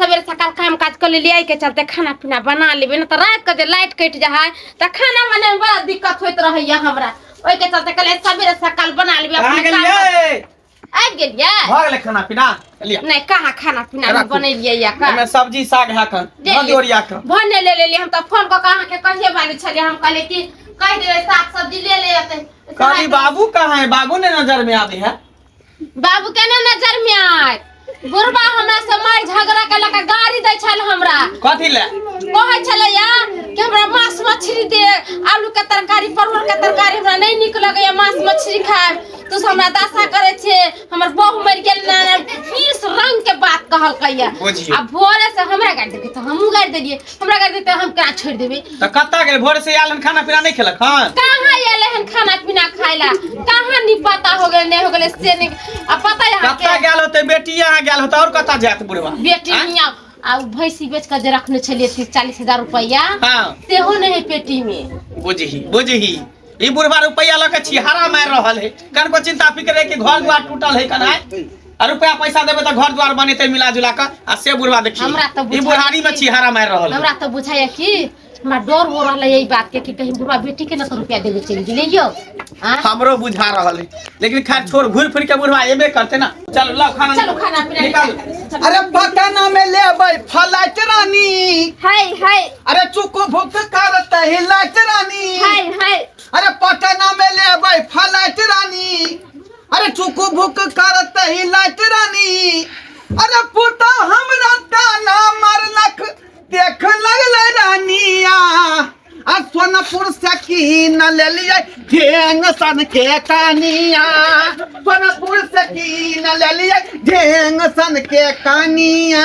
सवेरे सकाल काम काज कर लेलिए एहिके चलते खाना पीना बना लेबे ना तो रात के जे लाइट कट जा है तो खाना बने में बड़ा दिक्कत होत रहैया हमरा ओहिके चलते कहले सवेरे सकाल बना लेबे कहाँ अपने काम गेलियै आबि गेलियै भऽ गेलै खाना पीना लिअ नहीं कहाँ खाना पीना हम राखू। बनेलियै या का एहिमे सब्जी साग है कन जे नदी ओरिया कन भने ले लेलिए हम तो फोन को कहाँ के कहिए वाली छलिए हम कहले कि कह देबे साग सब्जी ले ले अते कहली बाबू कहाँ है बाबू ने नजर में आबे है बाबू केना नजर में आय बुढ़बा हमरा से मार झगड़ा के लगा गाड़ी दै छल हमरा कथी ले कहै छलैया कि हमरा मांस मछली दे आलू के तरकारी परवल के तरकारी हमरा नहीं नीक लगैया मांस मछली खाएब तू से हमरा दासा करे छे हमर बहू मर गेल ना बीस रंग के बात कहलकैया बुझियौ। आ भोरे से हमरा गाड़ी देलकै तऽ हमहूँ गाड़ी देलियै हमरा कर देते हम का छोड़ देबे त कत्ता गेल भोर से आलन खाना पीना नहीं खेलक हन कहाँ आयल हन खाना पीना खाइला कहाँ नी पता हो गेल नहीं हो गेल से नहीं आ पता यहाँ कत्ता के गेल होते बेटी यहाँ गेल होते और कत्ता जात बुढ़वा बेटी आँय? मियाँ आ उ भैंसी बेच कर जे रखने छलिए तीस चालीस हजार रुपया हाँ सेहो नहीं है पेटी में बुझही बुझही ई बुढ़वा रुपया लऽ के छिहारा मार रहल है कन को चिंता फिक्र है कि घर द्वार टूटल है कन है आ रुपया पैसा देबे तो घर द्वार बनेते मिला जुला कर आ से बुढ़वा देखी हमरा तो ई बुझाइए बुढ़ारी में कि- छिहारा मार रहल है हमरा तो बुझाइए कि हमरा डर हो रहा है यही बात के कि कहीं बुढ़वा बेटी के ना तो रुपया देवे चली गेले यो हाँ? हमरो बुझा रहल है लेकिन खैर छोड़ घूर फिर के बुढ़वा एबे करते ना चल ला खाना चलो खाना पीना निकाल निकाल। अरे पता ना में लेबै फलाइट रानी हाय हाय अरे चुको भुक करत ही लाइट रानी हाय हाय अरे पटना में ले अबै फलाइट रानी अरे चुकू भुक करत ही लाइट रानी अरे पुता हमरा ताना मारलक देख लगल रानिया आ सोनपुर से कीन ले लिए ढेंग सन के कानिया सोनपुर से कीन ले लिए ढेंग सन के कानिया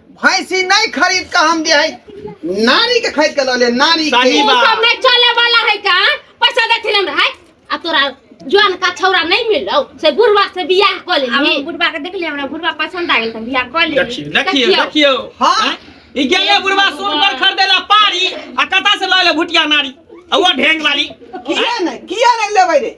भैंसी नहीं खरीद के हम दे है नारी के खरीद के लले नारी के सही तू बात। सब नहीं चले वाला है का पैसा देथिन हमरा है आ तोरा जवान का छौरा नहीं मिलो से बुढ़वा से बियाह कर ले हम बुढ़वा के देखली हमरा बुढ़वा पसंद आ गेल त बियाह कर ले देखियो देखियो देखियो हाँ। हैं? ई गेले बुढ़वा सुन पर खरीदे ला पारी आ कता से लैले भुटिया नारी औआ ढेंग वाली किया नहीं किया नहीं लेबै रे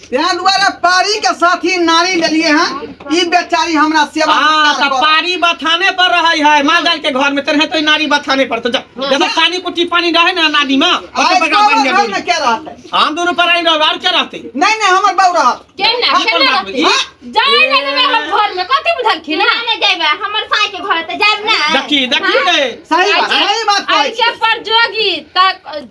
तें दुआरे पारी के साथी नारी लेलिए हैं ई बेचारी हमरा सेवा हाँ सत्कार तो करत। पारी बथाने पर रहे है माल जाल के घर में तेरे तो ई नारी बथाने पर तो जा जब पानी कुटी पानी रहे ना नानी में ओते आइ बगा तोरा बन घर में जाबे के रहतै हम दोनों पर आई रहो और क्या रहते नहीं नहीं हमर बाबू रहत केना हम केना करब रहती? ई? जाए ना देबे हम घर में कथी बुझलखिन ना ना जाइबे हमर साई के घर त जाइब ना देखी देखी रे सही बात सही बात कहै छी ऐसे पर जोगी तक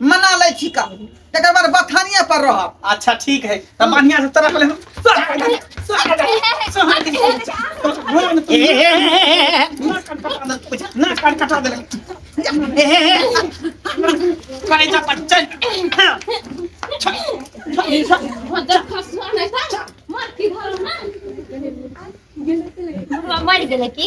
मना लै छी का तकर बाद बथानिए पर रहब अच्छा ठीक है तब बढ़िया से तरफ ले ना कान कटा दे करे जा बच्चन मर गेलै की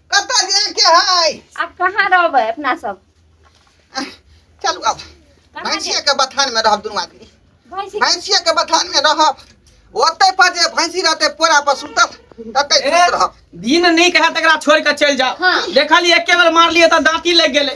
कतऽ जायके है आब कहाँ रहबै अपना सब चलू आब कहाँ जायब? भैंसिया के बथान में रहब दुनू आदमी भैंसी भैंसिया के बथान में रहब ओते पर जे भैंसी रहते पोरा पर सुतल तते ए, सुत रहब दिन नहीं कहा तकरा छोड़ के चल जाओ हाँ। देखली एके बेर मार लिए तो दांती लग गेले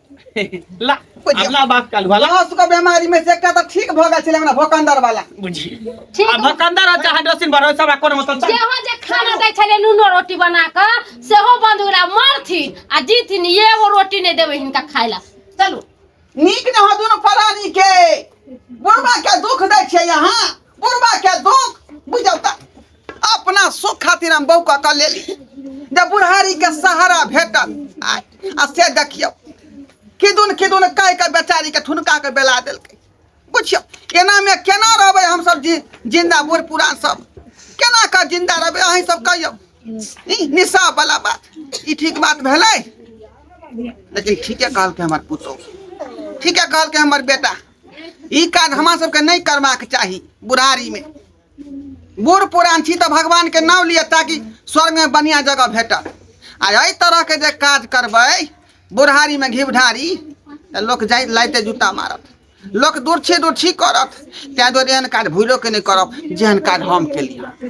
ला अपना बाप का लुहा ला लहस के बीमारी में से एकटा त ठीक भ गेल छले हमरा भोकंदर वाला बुझी ठीक आ भकंदर आ चाहे डसिन भरो सब कोनो मतलब चल जेहो जे खाना दै छलै नूनो रोटी बना कऽ सेहो बंद ओकरा मारथिन आ जीथिन एगो रोटी नहि देबै हिनका खाय लए चलू नीक न हो दुनु परानी के बुढ़वा के दुख दै छियै यहाँ बुढ़बा के दुख बुझल त अपना सुख खातिर हम बहू कऽ लेली जे बुढ़ारी के सहारा भेटल आ आ से देखियौ किदुन किदुन कहि के बेचारी के ठुनका के बेला देलकै बुझियौ एनामे केना रहबै हमसभ जि जिन्दा बूढ़ पुरान सब केना कऽ जिन्दा रहबै अहीं सब कहियौ ई निशा बला बात ई ठीक बात भेलै लेकिन ठीके कहलकै हमर पुतोह ठीके कहलकै हमर बेटा ई काज हमरा सबके नहि करबाक चाही बुढ़ारीमे बूढ़ पुरान छी तऽ भगवानके नाम लिअ ताकि स्वर्गमे बढ़िआँ जगह भेटत आ एहि तरहके जे काज करबै बुढ़ारीमे घिवढारी तऽ लोक जाइ लाइते जूता मारत लोक दूर छी दूर छी करत ताहि दुआरे एहन काज भूलोके नहि करब जेहन काज हम केलियै